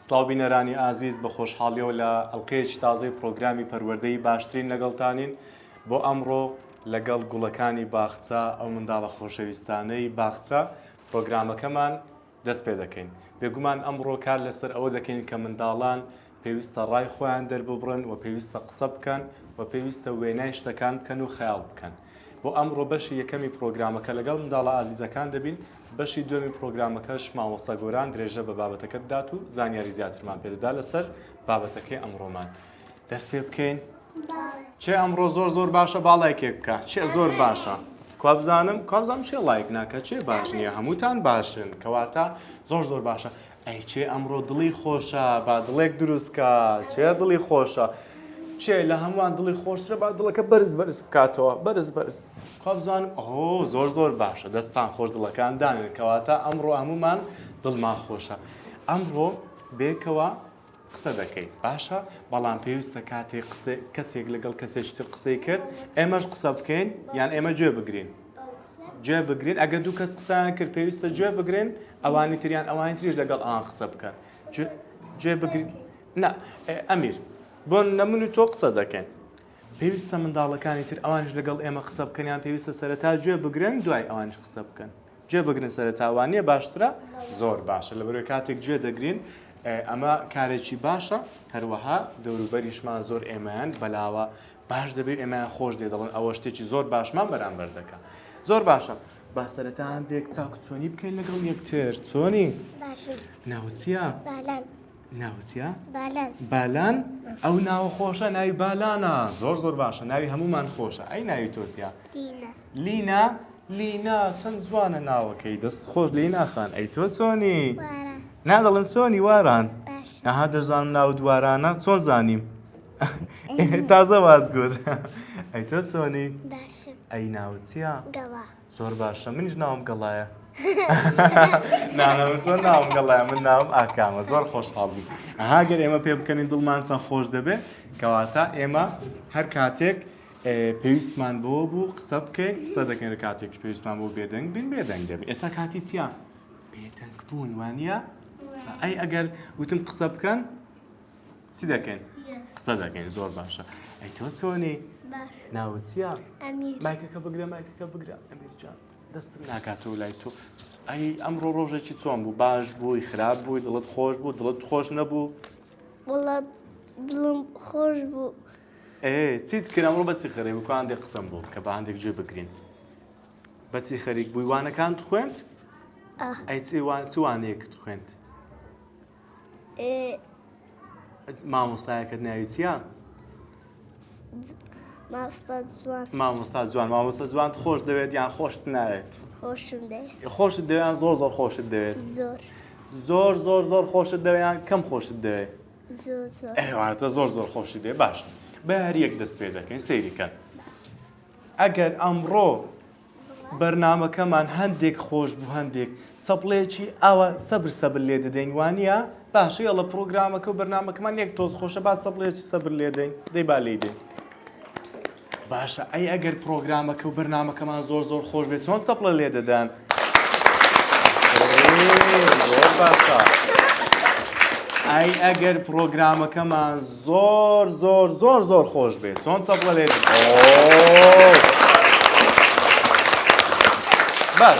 سڵاو بینەرانی ئازیز بە خۆشحاڵیەوە لە ئەڵقەیەکی تازەی پڕۆگرامی پەروەردەی باشترین لەگەڵتانین بۆ ئەمڕۆ لەگەڵ گوڵەکانی باخچە ئەو منداڵە خۆشەویستانەی باخچە پڕۆگرامەکەمان دەست پێ دەکەین بێگومان ئەمڕۆ کار لەسەر ئەوە دەکەین کە منداڵان پێویستە ڕای خۆیان دەرببڕن و پێویستە قسە بکەن و پێویستە وێنای شتەکان بکەن و خەیاڵ بکەن بۆ ئەمڕۆ بەشی یەکەمی پڕۆگرامەکە لەگەڵ منداڵە ئازیزەکان دەبین، بەشی دووەمی پڕۆگرامەکەش مامۆستا گۆران درێژە بە بابەتەکە دەدات و زانیاری زیاترمان پێ دەدات لەسەر بابەتەکەی ئەمڕۆمان. دەست پێ بکەین؟ چێ ئەمڕۆ زۆر زۆر باشە با لایکێک بکە چێ زۆر باشە کوا بزانم کابزانم چێ لایک ناکە چێ باش نییە هەمووتان باشن کەواتە زۆر زۆر باشە ئەی کێ ئەمڕۆ دڵی خۆشە با دڵێک دروست کا کێ دڵی خۆشە کێ لە هەمووان دڵی خۆشترە با دڵەکە بەرز بەرز بکاتەوە بەرز بەرز خوا بزانم ئەهۆ زۆر زۆر باشە دەستان خۆش دڵەکان دانێن کەواتە ئەمڕۆ هەمومان دڵمان خۆشە ئەمڕۆ بێکەوە قسە دەکەیت باشە بەڵام پێویستە کاتێک قسە کەسێک لەگەڵ کەسێکی تر قسەی کرد ئێمەش قسە بکەین یان ئێمە گوێ بگرین گوێ بگرین ئەگە دوو کەس قسان کرد پێویستە گوێ بگرن ئەوانی تریان ئەوانی تریش لەگەڵ ئەوان قسە بکەن گوێ بگرین نا ئەمیر بۆ نەمن و تۆ قسە دەکەن پێویستە منداڵەکانی تر ئەوانش لەگەڵ ئێمە قسە بکەنیان پێویستە سەرەتا گوێ بگرن دوای ئەوانش قسە بکەن گوێ بگرن سەرەتا وانیە باشترە زۆر باشە لەبەرەوەی کاتێک گوێ دەگرین ئەمە کارێکی باشە هەروەها دەوروبەریشمان زۆر ئێمەیان بەلاوە باش دەبێت ئێمەیان خۆش دێ دەڵن ئەوە شتێکی زۆر باشمان بەرامبەر دەکە زۆر باشە با سەرەتا هەندێک چاک چۆنی بکەین لەگەڵ یەکتر چۆنی ناوچە ناوچە بالان ئەو ناوە خۆشە ناوی بالانە زۆر زۆر باشە ناوی هەمومان خۆشە ئەی ناوی تۆزیا لینا لینا چەند جوانە ناوەکەی دەست خۆش لی ناخان ئەی تۆ چۆنی نا دەڵم چۆنی واران ئەها دەزانم ناو دوارانە چۆن زانیم تازە وات گوت ئەی تۆ چۆنی ئەی ناوچە زۆر باشە منیش ناوم گەڵایە نانەوە چۆن ناوم گەڵای من ناوم ئاکامە زۆر خۆشحاڵ بوو ئەهاگەر ئێمە پێ بکەنین دڵمان چەند خۆش دەبێت کەواتە ئێمە هەر کاتێک پێویستمان بەوە بوو قسە بکەین قسە دەکەین لە کاتێکی پێویستمان بۆ بێدەنگ بین بێدەنگ دەبین ئێستا کاتی چیا بێدەنگ بوون وانە ئەی ئەگەر وتم قسە بکەن چی دەکەین قسە دەکەین زۆر باشە ئەی تۆ چۆنی ناوچیا مایکەکە بگرە مایکەکە بگرە ئەمیرجان دەستم ناکاتەوە لای تۆ ئەی ئەمڕۆ ڕۆژێکی چۆن بوو باش بووی خراپ بووی دڵت خۆش بوو دڵت خۆش نەبوو وڵات دڵم خۆش بوو. ئێ چیت کرد ئەمڕۆ بەچی خەرێ بکو هەندێک قسەم بۆ بکە بە هەندێک جێ بگرین بەچی خەریک بووی وانەکان خوێند ئەی چوانەیەکت خوێند مامۆستایەکەت ناوی چییە؟ مامۆستا جوان مامۆستا جوان خۆش دەوێت یان خۆشت ناوێت خۆشت دەوێن زۆر زۆر خۆشت دەوێت زۆر زۆر زۆر خۆشت دەوێن کەم خۆشت دەوێت ئەواتە زۆر زۆر خۆشی دێ باش بە هەریەک دەست پێ دەکەین سەیریکەن ئەگەر ئەمڕۆ بەرنمەکەمان هەندێک خۆش بوو هەندێک سەپڵێکی ئاوە سەبر سەبر لێ دەدەین وانە باشە یڵە پرۆگرامەکە و بەرنمەکەمان یەک تۆز خۆشە بات سەپڵێکی سەبر لێدەین دەی با لێدەین. باشە ئەی ئەگەر پڕۆگرامەکە و بەرنامەکەمان زۆر زۆر خۆش بێت چۆن چەپڵە لێ دەدەن؟ زۆر باشە. ئای ئەگەر پرۆگرامەکەمان زۆر زۆر زۆر زۆر خۆش بێت چۆن چەپڵە لێ باش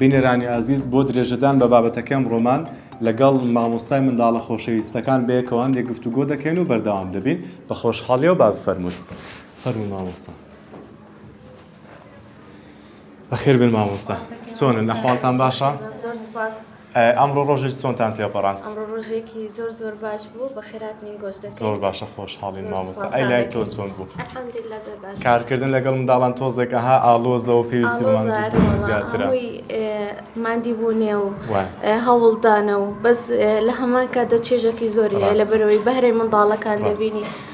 بینەرانی ئازیز بۆ درێژەدان بە بابەتەکەی ئەمڕۆمان لەگەڵ مامۆستای منداڵە خۆشەویستەکان بەیەکەوە هەندێک گفتوگۆ دەکەین و بەردەوام دەبین بە خۆشحاڵیەوە با بفەرمووت فەرموو مامۆستا بەخێر بێن مامۆستا چۆنن ئەحواڵتان باشە زۆر سپاس ئەمڕۆ ڕۆژێک چۆنتان تێپەڕاند ئەمڕۆ ڕۆژێکی زۆر زۆر باش بوو بە خێرات نین گۆش دەکەین زۆر باشە خۆشحاڵین مامۆستا ئەی لای تۆ چۆن بوو الحمدلله زۆر باش کارکردن لەگەڵ منداڵان تۆزێک ئەها ئاڵۆزەوە پێویستی بەمان زیاترە ماندی بوونێ و هەوڵدانە و بەس لە هەمان کاتدا چێژەکی زۆری لەبەرەوەی بەهرەی منداڵەکان دەبینی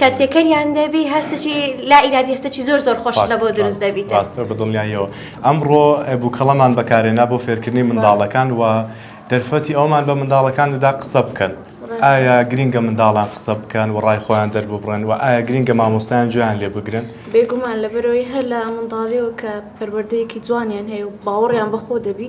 کە تێکەریان دەبی هەستێکی لا ئیرادی هەستێکی زۆر زۆر خۆشت لەبۆ دروست دەبیت. ڕاستە بە دڵنیاییەوە. ئەمڕۆ بووکەڵەمان بەکارهێنا بۆ فێرکردنی منداڵەکان و دەرفەتی ئەوەمان بە منداڵەکان دەدا قسە بکەن. ئایا گرینگە منداڵان قسە بکەن و ڕای خۆیان دەرببڕن و ئایا گرینگە مامۆستایان گوێیان لێ بگرن؟ بێگومان لەبەرئەوەی هەر لە منداڵییەوە کە پەروەردەیەکی جوانیان هەیە و باوەڕیان بەخۆ دەبی،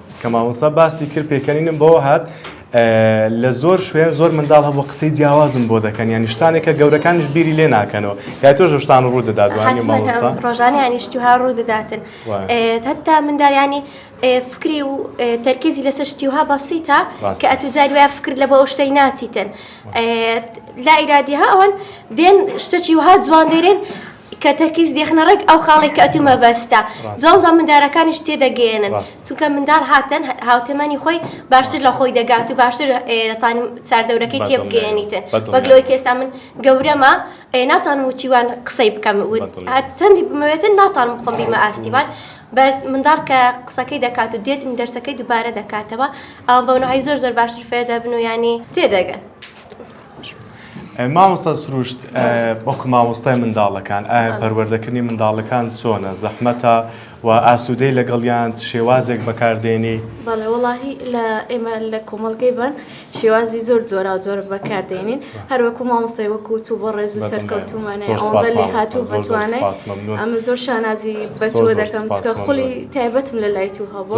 کە مامۆستا باسی کرد پێکەنینم بەوە هات لە زۆر شوێن زۆر منداڵ هەبوو قسەی جیاوازم بۆ دەکەن یانی شتانێکە گەورەکانش بیری لێ ناکەنەوە یا تۆش شتان ڕوو دەدات ڕۆژانی هەنیشتیها ڕوو دەداتن هەتا منداڵیانی فکری و تەرکیزی لەسەر شتیها بەسیتە کە ئەتو جاری وای فکر لە بۆ ئەو شتەی ناچیتن لا ئیرادیها ئەوان دێن شتەکی وها جوان دێرێن کە تەرکیز دێخنە ڕێک ئەو خاڵێک کە ئەتوو مەبەستە جاوزا مندارەکانیش تێدەگەێنن چونکە مندار هاتن هاوتەمەنی خۆی باشتر لە خۆی دەگات و باشتر دەتانی چاردەورەکەی تێبگەێنیتن بەگلۆی کێستا من گەورەمە ناتان وچیوان قسەی بکەم چەندی بمەوێتن ناتان بخۆم بیمە ئاستیوان بەس منداڵ کە قسەکەی دەکات و دێتن دەرسەکەی دووبارە دەکاتەوە ئەو بەونەعی زۆر زۆر باشتر فێدەبن و ینی تێدەگەن. مامۆستا سروشت وەکو مامۆستای منداڵەکان ئایا پەروەردەکردنی منداڵەکان چۆنە زەحمەتە و ئاسوودەی لەگەڵیان شێوازێک بەکاردێنی بەڵێ وەڵاهی لە ئێمە لە کۆمەڵگەی بەن شێوازی زۆر جۆرا و جۆر بەکاردێنین هەر وەکو مامۆستای وەکو تو بۆ ڕێز و سەرکەوتومانە ئەوەندە لێ هاتوو بەتوانێت ئەمە زۆر شانازی بەتوە دەکەم چکە خولی تایبەتم لە لای تو هەبوو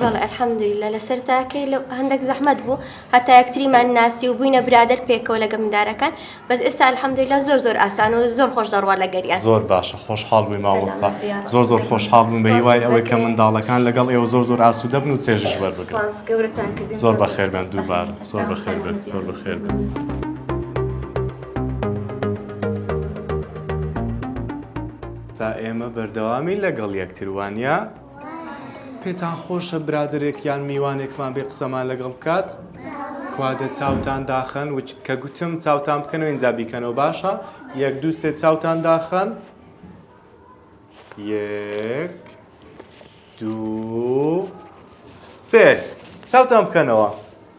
بەڵێ الحمدللە لەسەر تاکەی لە هەندەک زەحمەت بوو هەتا یەکتریمان ناسی و بووینە برادەر پێکەوە لەگە مندارەکان بەس ئێستا الحمدللە زۆر زۆر ئاسان و زۆر خۆش دەڕوا لەگەریان. زۆر باشە خۆشحاڵ بووی مامۆستا زۆر زۆر خۆشحاڵ بووم بە هیوای ئەوەی کە منداڵەکان لەگەڵ ئێوە زۆر زۆر ئاسوودە بن و چێژیش وەربگرن زۆر بەخێر بێن دووبارە زۆر بەخێر بێن زۆر بەخێر بێن. تا ئێمە بەردەوامین لەگەڵ یەکتر وانە؟ پێتان خۆشە برادەرێک یان میوانێکمان بێ قسەمان لەگەڵ بکات کوا دە چاوتان داخەن کە گوتم چاوتان بکەنەوە اینجا بیکەنەوە باشە یەک دوو سێ چاوتان داخەن یەک دوو سێ چاوتان بکەنەوە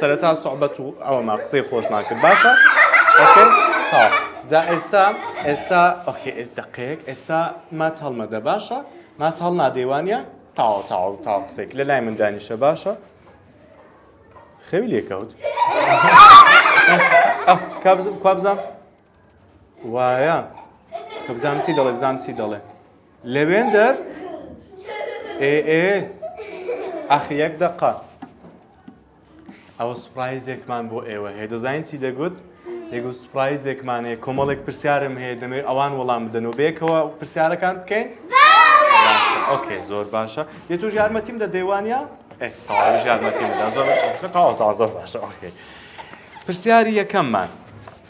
سەرەتا سوعبەت و ئەوەمان قسەی خۆشمان کرد باشە ئۆکەی ها جا ئێستا ئێستا ئۆکەی ئێ- دەقێک ئێستا ماچ هەڵمەدە باشە ماچ هەڵنادەی وانە تاو تاو تاو قسێک لە لای من دانیشە باشە خەوی لێکەوت کابزم کابزان وایە کە بزانم چی دەڵێ بزانم چی دەڵێ لەوێندەر ئێ ئێ ئەخ یەک دەقە ئەوە سوپرایزێکمان بۆ ئێوە هەیە دەزانین چی دەگوت دەگو سوپرایزێکمان هەیە کۆمەڵێک پرسیارم هەیە دەمێ ئەوان وەڵام بدەنەوە بێکەوە پرسیارەکان بکەین ئۆکێ زۆر باشە یە توش یارمەتیم دە دەیوانە تاژ یارمەتیم دا زۆر تازە باشە ئۆکێ پرسیاری یەکەممان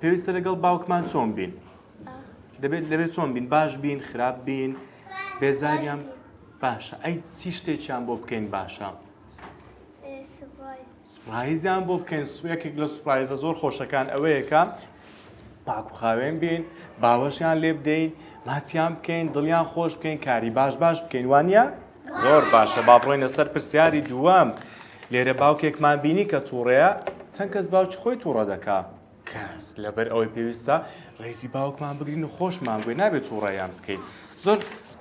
پێویستە لەگەڵ باوکمان چۆن بین دەبێت لەبێت چۆن بین باش بین خراپ بین بێزاریان باشە ئەی چی شتێکیان بۆ بکەین باشە سپایزیان بۆ بکەین سوێکێک لە سوپایزە زۆر خۆشەکان ئەوەیەکە پاک و خاوێن بین باوەشیان لێ بدەین ماچیان بکەین دڵیان خۆش بکەین کاری باش باش بکەین وانە زۆر باشە با بڕۆینە سەر پرسیاری دووەم لێرە باوکێکمان بینی کە تووڕەیە چەند کەس باوکی خۆی تووڕە دەکا کەس لەبەر ئەوەی پێویستە ڕێزی باوکمان بگرین و خۆشمان گوێ نابێت تووڕەیان بکەین زۆر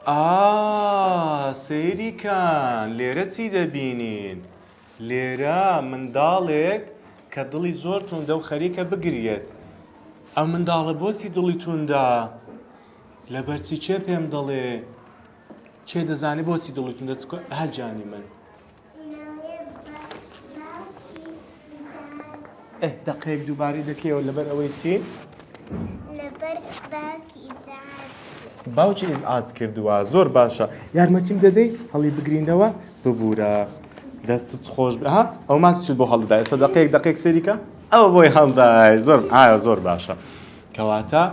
ئا سەیریکان لێرە چی دەبینین لێرە منداڵێک کە دڵی زۆر توندە و خەریکە بگریێت ئەم منداڵە بۆچی دڵی توندە لەبەرچی چێ پێم دەڵێ کێ دەزانێ بۆچی دڵی توندا چکە هە جانی من ئەه دەقەیەک دووبارەی دەکەیەوە لەبەر ئەوەی چی باوکی ئیز ئاج کردووە زۆر باشە یارمەتیم دەدەی هەڵی بگرینەوە ببوورە دەستت خۆش ها ئەو ماچ بۆ هەڵدای سەدەقەیەک دەقێک سەریکە ئەو بۆی هەڵدای زۆر ئایا زۆر باشە. کەواتە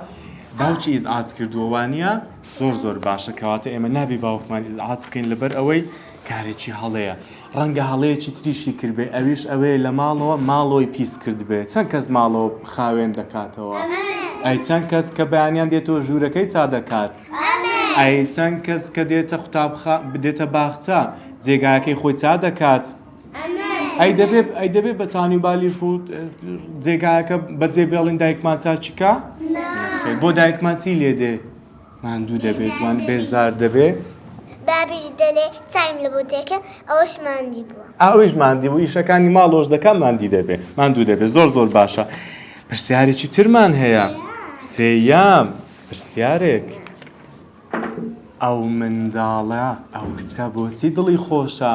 باوکی ئیزعاج کردووە وانە؟ زۆر زۆر باشە کەواتە ئێمە نابێ باوکمان ئیزعاج بکەین لەبەر ئەوەی کارێکی هەڵەیە ڕەنگە هەڵەیەکی تریشی کردبێ ئەویش ئەوەیە لە ماڵەوە ماڵەوەی پیس کردبێت چەند کەس ماڵەوە خاوێن دەکاتەوە ئەی چەند کەس کە بەیانیان دێتەوە ژوورەکەی چا دەکات ئەی چەند کەس کە دێتە قوتابخ بدێتە باخچە جێگاکەی خۆی چا دەکات ئەی دەبێ ئەی دەبێ بە تانی و بالی فوت جێگایەکە بەجێ بێڵین دایکمان چاچیکە بۆ دایکمان چی لێ دێ ماندوو دەبێت وان بێزار دەبێ بابیش دەلێ چایم لە بۆ دێکە ئەوش ماندی بووە ئەوش ماندی بوو ئیشەکانی ماڵۆش دەکە ماندی دەبێ ماندوو دەبێت زۆر زۆر باشە پرسیارێکی ترمان هەیە سێیام پرسیارێک ئەو منداڵە ئەو کچە بۆچی دڵی خۆشە؟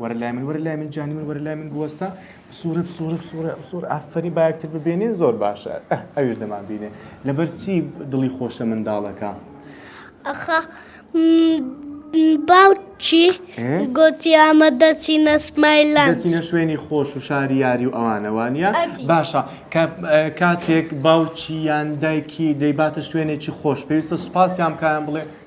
وەرە لای من وەرە لای من جانی من وەرە لای من بوەستە بسوڕە بسوڕە بسوڕە بسوڕ ئافەری باەکتر ببێنین زۆر باشە ئەوش دەمان بینێ لەبەر چی دڵی خۆشە منداڵەکە ئەخە باوچی گوتی ئەمە دەچینە سمایلان دەچینە شوێنی خۆش و شاری یاری و ئەوانەوانە باشە کاتێک باوچی یان دایکی دەیباتە شوێنێکی خۆش پێویستە سوپاسیان کایان بڵێ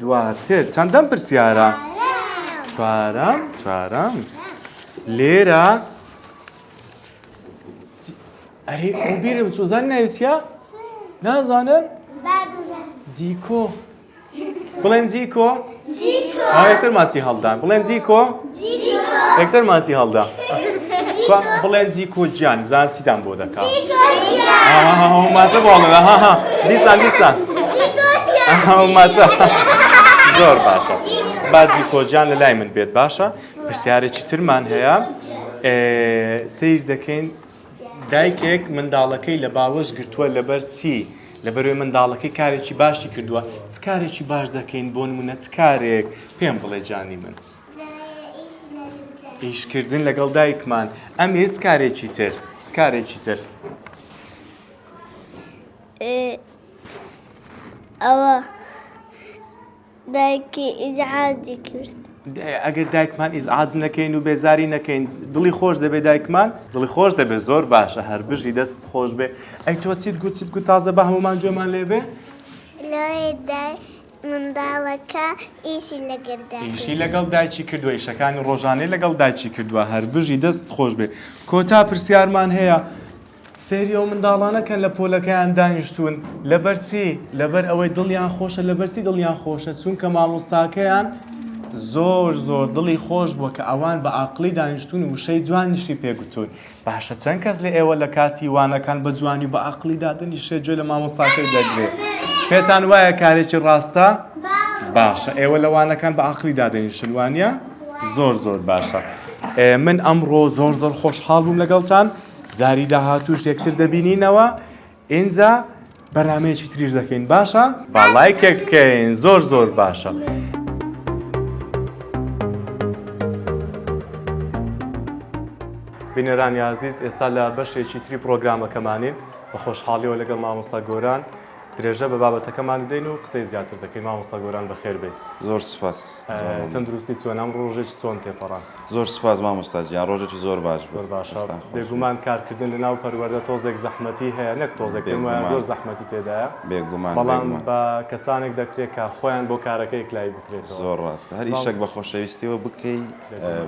دواتر چەندەم پرسیارە؟ چوارەم چوارەم لێرە ئەرێ ئەو بیرم سوزان ناویچە؟ نازانم جیکۆ بڵێن جیکۆ؟ ئایا سەرماتی هەڵدان بڵێن جیکۆ؟ یەکسەر ماسی هەڵدا کوا بڵێن دیکۆ گیان بزان چیتان بۆ دەکا ماتە باڵێ ها دیسان دیسان ماتە زۆر باشە با دیکۆ گیان لە لای من بێت باشە پرسیارێکی ترمان هەیە سیر دەکەین دایکێک منداڵەکەی لە باوەش گرتووە لەبەر چی لەبەروێ منداڵەکەی کارێکی باشی کردووە کارێکی باش دەکەین بۆ نمونە چ کارێک پێم بڵێ جانی من. ئیشکردن لەگەڵ دایکمان ئەمیر چ کارێکی تر چ کارێکی تر ئەوە دایکی ئیزعاجی کرد ئەگەر دایکمان ئیزعاج نەکەین و بێزاری نەکەین دڵی خۆش دەبێت دایکمان دڵی خۆش دەبێت زۆر باشە هەر بژی دەست خۆش بێ ئەی تۆ چیت گوچیت گوت تازە بە هەمومان جۆمان لێبێ منداڵەکە ئیشی لەگەر دایکی. ئیشی لەگەڵ دایکی کردوە ئیشەکانی ڕۆژانەی لەگەڵ دایکی کردوە هەربژی دەست خۆش بێ کۆتا پرسیارمان هەیە سێری ئەو منداڵانە کەن لە پۆلەکەیان دانیشتون لەبەر چی لەبەر ئەوەی دڵیان خۆشە لەبەر چی دڵیان خۆشە چونکە مامۆستاکەیان زۆر زۆر دڵی خۆش بووە کە ئەوان بە ئاقڵی دانیشتون وشەی جوانیشی پێ گوتون باشە چەند کەس لە ئێوە لە کاتی وانەکان بە جوانی و بە ئەقڵی دادەنیشێت گوێ لە مامۆستاکەی دەگرێت پێتان وایە کارێکی ڕاستە باشە ئێوە لە وانەکان بە ئەقڵی دادەنیشن وانە زۆر زۆر باشە من ئەمڕۆ زۆر زۆر خۆشحاڵ بووم لەگەڵتان جاری داهاتوش یەکتر دەبینینەوە ئینجا بەرنامەیەکی تریش دەکەین باشە با لایکێک بکەین زۆر زۆر باشە. بینەرانی عزیز ئێستا لە بەشێکی تری پرۆگرامەکەمانین بە خۆشحاڵیەوە لەگەڵ مامۆستا گۆران درێژە بە بابەتەکەمان دەین و قسەی زیاتر دەکەین مامۆستا گۆران بەخێربێت زۆر سپاس. تەندروستی چۆنە؟ ئەمڕۆ ڕۆژێکی چۆن تێپەڕاند؟ زۆر سوپاس مامۆستا گیان، ڕۆژێکی زۆر باش بوو. زۆر باشە، بێگومان کارکردن لەناو پەروەردە تۆزێک زەحمەتی هەیە، نەک تۆزێک پێم وایە زۆر زەحمەتی تێدایە، بەڵام بە کەسانێک دەکرێت کە خۆیان بۆ کارەکە یەکلایی بکرێتەوە. زۆر ڕاستە، هەر ئیشێک بە خۆشەویستییەوە بکەی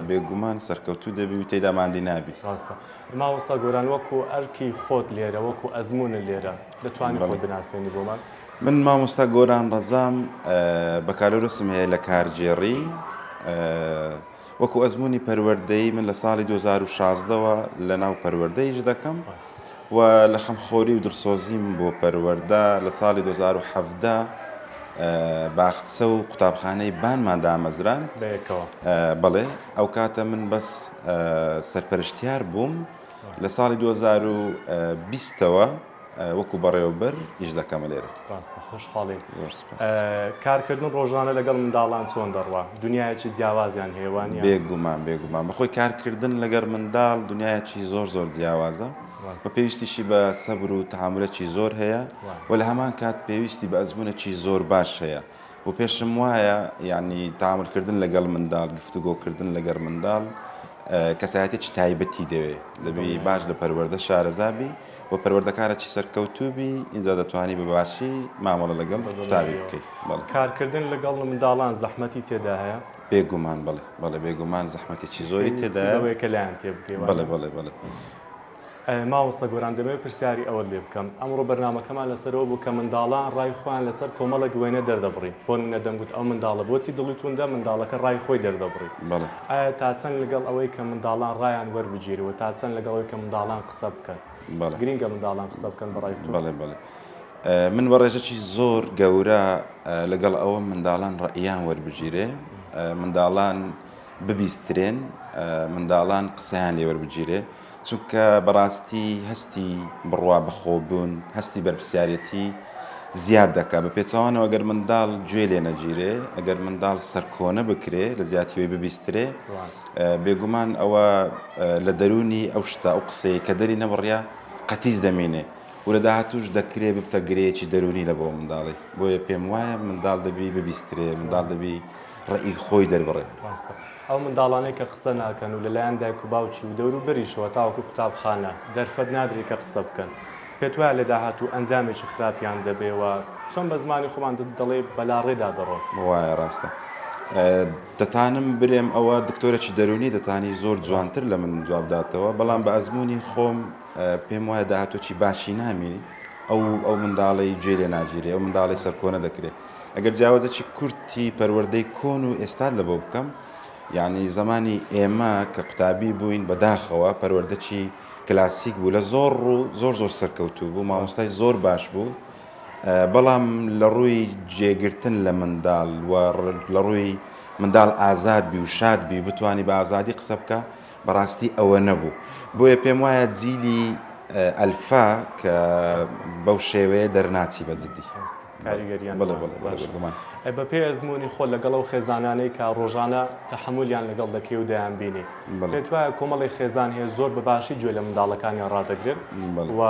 بێگومان سەرکەوتوو دەبی و تێیدا ماندی نابی. ڕاستە. مامۆستا گۆران وەکو ئەرکی خۆت لێرە، وەکو ئەزموونت لێرە، دەتوانی خۆت بناسێنی بۆمان؟ من مامۆستا گۆران ڕەزام بەکالۆرۆسم هەیە لە کارگێڕی وەکو ئەزمموی پەروەردەی من لە ساڵی 2016ەوە لە ناو پەروەردەیش دەکەم و لە خەمخۆری و درسۆزیم بۆ پەروەەردە لە ساڵی 2017 باخچە و قوتابخانەی بانمان دامەزران بڵێ ئەو کاتە من بەس سەرپەرشتیار بووم لە ساڵی 2020ەوە وەکو بەڕێوەبەر ئیش دەکەمە لێرە ڕاستە خۆشحاڵین کارکردن ڕۆژانە لەگەڵ منداڵان چۆن دەڕوا دنیایەکی جیاوازیان هێوان بێگومان بێگومان بەخۆی کارکردن لەگەر منداڵ دنیایەکی زۆر زۆر جیاوازە بە پێویستیشی بە سەبر و تعاملەکی زۆر هەیە و لە هەمان کات پێویستی بە ئەزمونەکی زۆر باش هەیە بۆ پێشم وایە یعنی تاملکردن لەگەڵ منداڵ گفتوگۆکردن لەگەر منداڵ کەسایەتێکی تایبەتی دەوێت دەبی باش لە پەروەەردە شارەزابی و پەروەردەکارەی سەرکەوتوبی ئینجا دەتوانی بە باشی مامەڵە لەگەڵ قوتابی بکەیت کارکردن لەگەڵ منداڵان زەحمەتی تێدا هەیە بێگومان بڵێ بەڵێ بێگومان زەحمەتێکی زۆری تێداەوەی کە لایەن تێ بکەی بڵێ بڵێ بڵێ مامۆستا گۆران دەمەوێت پرسیاری ئەوەت لێ بکەم ئەمڕۆ بەرنامەکەمان لەسەر ئەوە بوو کە منداڵان ڕای خۆیان لەسەر کۆمەڵێک وێنە دەردەبڕی بۆ نمونە دەمگوت ئەو منداڵە بۆچی دڵی توندە منداڵەکە ڕای خۆی دەردەبڕی ئایا تا چەند لەگەڵ ئەوەی کە منداڵان ڕایان وەربگیرێ و تا چەند لەگەڵ ئەوەی کە منداڵان قسە بکەن گرینگە منداڵان قسە بکەن بە ڕای تۆ؟ من بە ڕێژەکی زۆر گەورە لەگەڵ ئەوە منداڵان ڕەئیان وەربگیرێ منداڵان ببیسترێن منداڵان قسەیان لێوەربگیرێ چونکە بەڕاستی هەستی بڕوا بەخۆبوون، هەستی بەرپرسیارێتی زیاد دەکات، بە پێچەوانەوە ئەگەر منداڵ گوێ لێ نەگیرێ، ئەگەر منداڵ سەرکۆنە بکرێ، لە جیاتی ئەوەی ببیسترێ، بێگومان ئەوە لە دەروونی ئەو شتە، ئەو قسەیەی کە دەری نەبڕیە قەتیس دەمینێ و لە داهاتووش دەکرێ ببتە گرێیەکی دەروونی لە بۆ منداڵی، بۆیە پێم وایە منداڵ دەبی ببیسترێ، منداڵ دەبی ڕەئی خۆی دەربڕێ. ئەو منداڵانەی کە قسە ناکەن و لەلایەن دایک و باوکی و دەوروبەریشەوە تاوەکو قوتابخانە دەرفەت نادرێت کە قسە بکەن، پێت وایە لە داهاتوو ئەنجامێکی خراپیان دەبێت و چۆن بە زمانی خۆمان دەڵێی بەلاڕێدا دەڕۆن؟ وایە ڕاستە دەتانم برێم ئەوە دکتۆرەکی دەرونی دەتانی زۆر جوانتر لە من جواب داتەوە بەڵام بە ئەزمونی خۆم پێم وایە داهاتۆکی باشی نامێنی ئەو ئەو منداڵەی جێ لێ ناگیرێ ئەو منداڵەی سەرکۆنە دەکرێ ئەگەر جیاوازەکی کورتی پەروەردەی کۆن و ئێستات لەبۆ بکەم، یانی زەمانی ئێمە کە قوتابی بووین بەداخەوە پەروەردەکی کلاسیک بوو لە زۆر ڕوو زۆر زۆر سەرکەوتوو بوو، مامۆستای زۆر باش بوو، بەڵام لە ڕووی جێگرتن لە منداڵ و لە ڕووی منداڵ ئازاد بی و شاد بی بتانی بە ئازادی قسە بکە بەڕاستی ئەوە نەبوو بۆیە پێم وایە جیلی ئەلفا کە بەو شێوەیە دەرناچی بە جدی. کاریگەریان بەڵێ بەڵێ بەڵێ باشە بێگومان ئەی بە پێی ئەزموونی خۆت لەگەڵ ئەو خێزانانەی کە ڕۆژانە تەحەمولیان لەگەڵ دەکەی و دەیانبینی بەڵێ پێت وایە کۆمەڵی خێزان هەیە زۆر بە باشی گوێ لە منداڵەکانیان ڕادەگرن بەڵێ و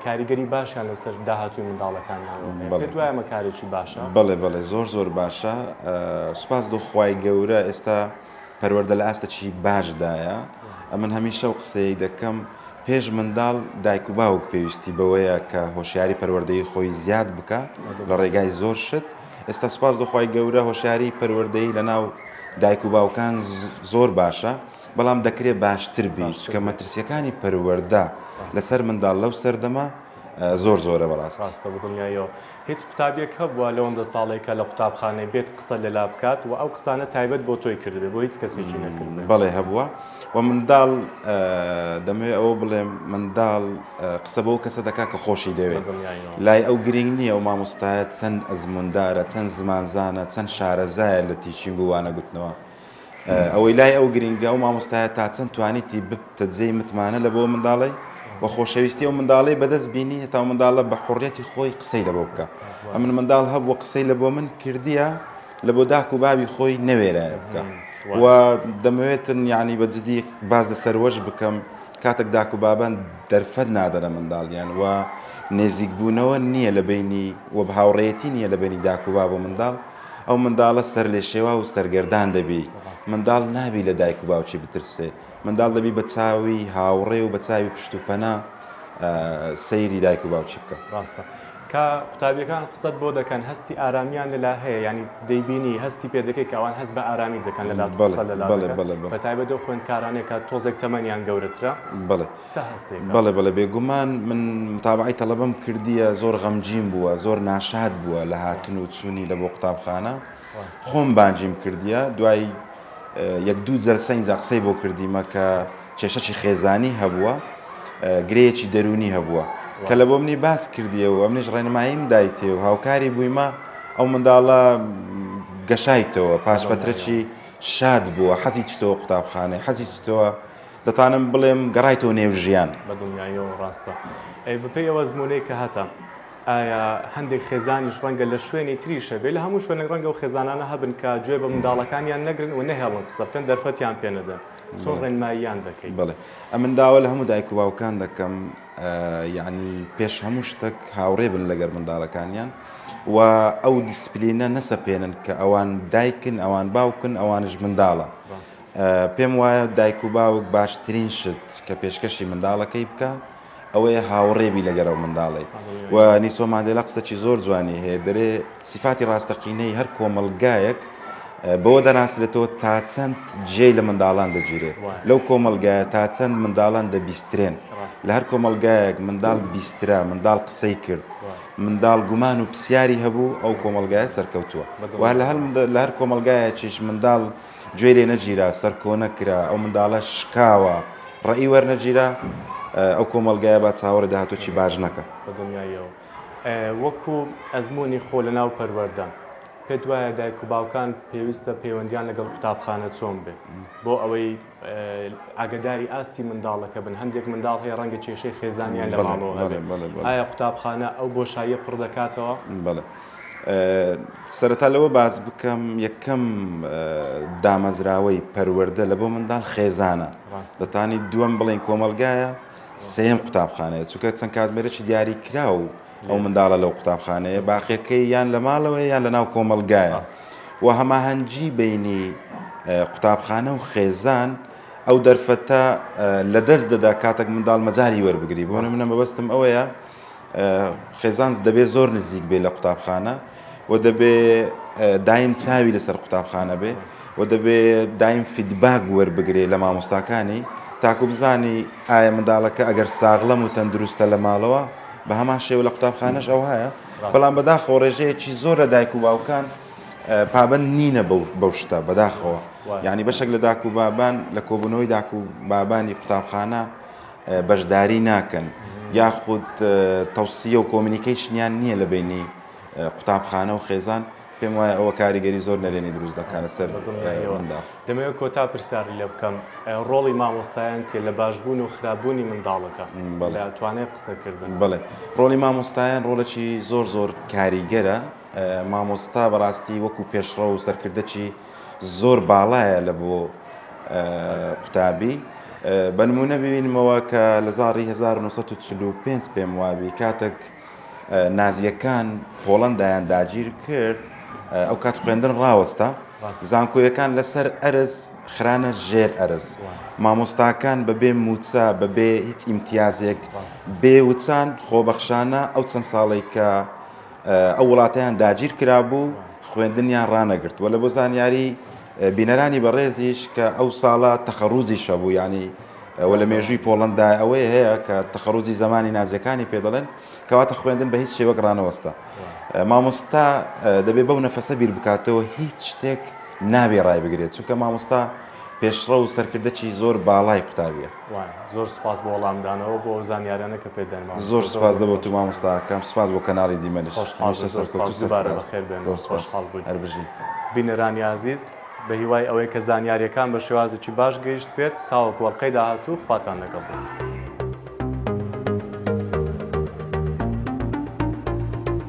کاریگەری باشیان لەسەر داهاتووی منداڵەکانیانەوە هەیە بەڵێ پێت وایە ئەمە کارێکی باشە؟ بەڵێ بەڵێ زۆر زۆر باشە سوپاس لۆ خوای گەورە ئێستا پەروەردە لە ئاستەکی باشدایە، ئەمن هەمیشە ئەو قسەیەی دەکەم، پێش منداڵ دایک و باوک پێویستی بەوەیە کە هۆشیاری پەروەردەیی خۆی زیاد بکا لە ڕێگای زۆر شت، ئێستا سوپاس بۆ خوای گەورە هۆشیاری پەروەردەیی لەناو دایک و باوکان زۆر باشە، بەڵام دەکرێ باشتر بی، چونکە مەترسییەکانی پەروەردە لەسەر منداڵ لەو سەردەمە زۆر زۆرە بەڕاستی. هیچ قوتابیەک هەبوە لەوەندە ساڵەی کە لە قوتابخانەی بێت قسە لەلا بکات وە ئەو قسانە تایبەت بۆ تۆی کردبێ بۆ هیچ کەسێکی نەکردبێ؟ بەڵێ هەبوە وە منداڵ دەمەوێ ئەوە بڵێم منداڵ قسە بەو کەسە دەکا کە خۆشی دەوێ لای ئەو گرنگ نیە ئەو مامۆستایە چەند ئەزموندارە چەند زمانزانە چەند شارەزایە لە تیچینگ و وانەگوتنەوە ئەوەی لای ئەو گرینگە ئەو مامۆستایە تا چەند توانیتی ببتە جێی متمانە لە بۆ منداڵی و خۆشەویستی ئەو منداڵی بەدەست بینی هێتا و منداڵە بە حڕەتی خۆی قسەی لە بۆ بکە ئەمن منداڵ هەبوو قسەی لە بۆ من کردیە لە بۆ داک و بابی خۆی نەوێرایە بکە و دەمەوێتن یعنی بە جدی باز لە سەروەش بکەم کاتێک داک و بابان دەرفەت نادەنە منداڵیان و نێزیکبوونەوە نییە لە بینی وە هاوڕێتی نییە لە بینی داک و باب و منداڵ ئەو منداڵە سەرلێشێواو و سەرگەردان دەبی. منداڵ نابی لە دایک و باوکی بترسێ. منداڵ دەبی بە چاوی هاوڕێ و بە چاوی پشت و پەنا سەیری دایک و باوکی بکە. ڕاستە. کە قوتابیەکان قسەت بۆ دەکەن هەستی ئارامیان لەلا هەیە یانی دەیبینی هەستی پێ دەکەی کە ئەوان هەست بە ئارامی دەکەن لەلات و قسە لەلا دەکەن. بەڵێ بەڵێ بەڵێ. بە تایبەت ئەو خوێندکارانەی کە تۆزێک تەمەنیان گەورەترە. بەڵێ. چ هەستێکە؟ بەڵێ بەڵێ بێگومان من متابەعەی تەڵەبەم کردیە زۆر غەمگین بووە زۆر ناشاد بووە لە هاتن و چوونی لە بۆ قوتابخانە خۆم بانگیم کردیە دوای یەک دوو جەلسە ئینجا قسەی بۆ کردیمە کە کێشەی خێزانی هەبووە گرەیەکی دەرونی هەبووە کە لە بۆ منی باس کردیەوە منیش ڕێنماییم دایتێ و هاوکاری بوویمە ئەو منداڵە گەشایتەوە پاش فترەکی شاد بووە حەزی چتەوە قوتابخانەی حەزی چتەوە دەتانم بڵێم گەڕایتەوە نێو ژیان. بە دڵنیاییەوە ڕاستە. ئەی بەپێی ئەو ئەزموونەی کە هەتە، ئایا هەندێک خێزانیش ڕەنگە لە شوێنی تریش هەبێ، لە هەموو شوێنێک ڕەنگە ئەو خێزانانە هەبن کە گوێ بە منداڵەکانیان نەگرن و نەهێڵن قسە بکەن، دەرفەتیان پێ نەدەن. چۆن ڕێنماییان دەکەی؟ بەڵێ. ئەمن داوا لە هەموو دایک و باوکان دەکەم، یانی پێش هەموو شتەک هاوڕێ بن لەگەر منداڵەکانیان و ئەو دیسپلینە نەسەپێنن کە ئەوان دایکن، ئەوان باوکن، ئەوانیش منداڵە. پێم وایە دایک و باوک باشترین شت کە پێشکەشی منداڵەکەی بکا ئەوەیە هاوڕێ بی لەگەر ئەو منداڵەی و نیسۆ ماندێلا قسەکی زۆر جوانی هەیە دەرێ سیفاتی ڕاستەقینەی هەر کۆمەڵگایەک بەوە دەناسرێتەوە تا چەند جێی لە منداڵان دەگیرێت لەو کۆمەلگایە تا چەند منداڵان دەبیسترێن لە هەر کۆمەلگایەک منداڵ بیسترا منداڵ قسەی کرد منداڵ گومان و پرسیاری هەبوو ئەو کۆمەلگایە سەرکەوتووە وا لە هەر کۆمەلگایەکیش منداڵ گوێی لێ نەگیرا، سەرکۆنە کرا، ئەو منداڵە شکاوە، ڕێی وەرنەگیرا، ئەو کۆمەڵگایە با چاوەڕێ داهاتووێکی باش نەکا. بە دڵنیاییەوە وەکو ئەزموونی خۆ لەناو پەروەردە، پێت وایە دایک و باوکان پێویستە پەیوەندییان لەگەڵ قوتابخانە چۆن بێت بۆ ئەوەی ئاگەداری ئاستی منداڵەکە بن؟ هەندێک منداڵ هەیە ڕەنگە کێشەی خێزانیان لە ماڵەوە هەبێت، ئایا قوتابخانە ئەو بۆشاییە پڕ دەکاتەوە؟ سەرەتا لەوە باس بکەم یەکەم دامەزراوەی پەروەەردە لە بۆ منداڵ خێزانە دەتانی دووەم بڵێن کۆمەلگایە سێم قوتابخانەیە چونکە چەند کاتمێرەی دیاری کرا و ئەو منداڵە لەو قوتابخانەیە باقیەکەی یان لە ماڵەوەی یان لە ناو کۆمەلگایە و هەماهەنگی بینی قوتابخانە و خێزان ئەو دەرفەتە لە دەست دەدا کاتێک منداڵ مەجاری وەربگری بۆ منە مەبەستم ئەوەیە خێزان دەبێ زۆر نزیک بێ لە قوتابخانە و دەبێ دایم چاوی لەسەر قوتابخانە بێ و دەبێ دایم فیدباگ وەربگرێ لە مامۆستاکانی تاکو بزانی ئایا منداڵەکە ئەگەر ساغڵەم و تەندروستە لە ماڵەوە بە هەمان شێوە لە قوتابخانەش ئەو هەیە بەڵام بەداخەوە ڕێژەیەکی زۆر لە دایک و باوکان پابند نینە بەو شتە بەداخەوە ینی بەشێک لە داک و بابان لە کۆبوونەوەی داک و بابانی قوتابخانە بەشداری ناکەن یاخود تەوسیە و کۆمینیکەیشنیان نییە لە بینی قوتابخانە و خێزان پێم وایە ئەوە کاریگەری زۆر نەرێنی دروست دەکەنە سەر منداڵ دەمەوێت کۆتا پرسیاری لێ بکەم ڕۆڵی مامۆستایان چیە لە باشبوون و خراپبوونی منداڵەکە توانێت قسەکردن بڵێ ڕۆڵی مامۆستایان ڕۆڵێکی زۆر زۆر کاریگەرە مامۆستا بەڕاستی وەکو پێشڕە و سەرکردەکی زۆر باڵایە لە بۆ قوتابی بە نمونە ببینمەوە کە لە زاری 1940 پێم وابی کاتێک نازیەکان پۆڵندایان داگیر کرد ئەو کات خوێندن ڕاوەستا زانکۆیەکان لەسەر ئەرز خرانە ژێر ئەرز مامۆستاکان بەبێ موچە بەبێ هیچ ئیمتیازێک بێوچان خۆبەخشانە ئەو چەند ساڵێک کە ئەو وڵاتەیان داگیر کرابوو خوێندنیان ڕانەگرت وە لە بۆ زانیاری بینەرانی بەڕێزیش کە ئەو ساڵە تەخەڕوزی شەبوو ینی ئەوە لە مێژووی پۆڵندا ئەوەیە هەیە کە تەخەڕوزی زمانی نازەکانی پێ دەڵێن کەواتە خوێندن بە هیچ شێوەک ڕانەوەستا مامۆستا دەبێ بەو نەفەسە بیر بکاتەوە هیچ شتێک نابێ ڕای بگرێت چونکە مامۆستا پێشڕە و سەرکردەکی زۆر باڵای قوتابیە زۆر سوپاس بۆ وەڵامدانەوە بۆ ئەو زانیاریانە کە پێت داین مامۆستا. زۆر سوپاس دە بۆ تو مامۆستا کەم سوپاس بۆ کەناڵی دیمەنیش خۆشحاڵ بن زۆر سوپاس دووبارە بەخێر بێن زۆر سوپاس خۆشحاڵ بووین هەر بژی. بینەرانی ئازیز بە هیوای ئەوەی کە زانیاریەکان بە شێوازێکی باش گەیشت بێت تاوەکو ئەڵقەی داهاتوو خواتان لەگەڵ بێت.